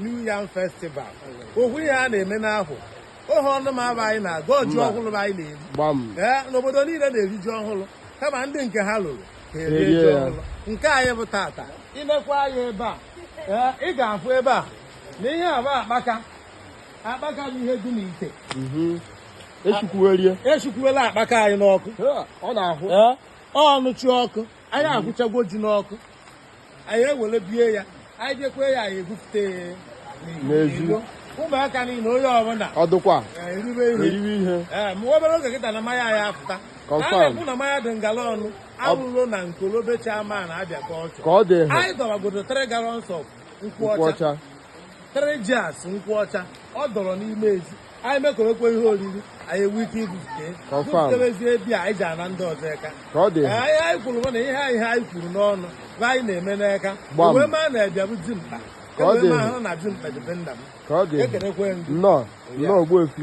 New Yam Festival ọ bụ ihe a na-eme n'ahọ ohu ọnụ ma aba anyị na-agọ ji Mba. ọhụrụ anyị na-eri gbam ee obodo niile na-eri ji ọhụrụ kama ndị nke ha luru ha erie Erie ji ya. ọhụrụ nke anyị bụ tata i lekwa anya ebe a ee ị ga-afụ ebe a na ihe a bụ akpaka akpaka bụ ihe dị n'ite Mhm. esikwuwerie esikwuela akpaka anyị n'ọkụ ọ na-ahụ ee ọnụchi ọkụ anyị ahụchagwo ji n'ọkụ anyị ewere bie ya anyị jekwe ya anyị ebupụta ya n'ezi ụmụaka niile onye ọbụla ọdụkwa eriwe ihe ee ma obere oge kịta na mmanya ya apụta na-ekwu na mmanya dị ngala ọnụ arụrụ na nkolobecha ma na abịa ka ọchọ ka ọ dị anyị dọwagodo three gallons of nkwụ ọcha three jars nkwụ ọcha ọ dọrọ n'ime ezi anyị mekerekwe ihe oriri anyị enwe ike ibupụta bupụtebezie ebịa anyị ji ana ndị ọzọ aka anyị anyị kwuru bụ na ihe anyị ha anyị kwuru n'ọnụ bụ ihe anyị na-eme n'aka wee maa na ebịa bụ dimkpa ka ọ dị na dimkpa dị be nna m ekenekwe nnọọ nnọọ Ogbuefi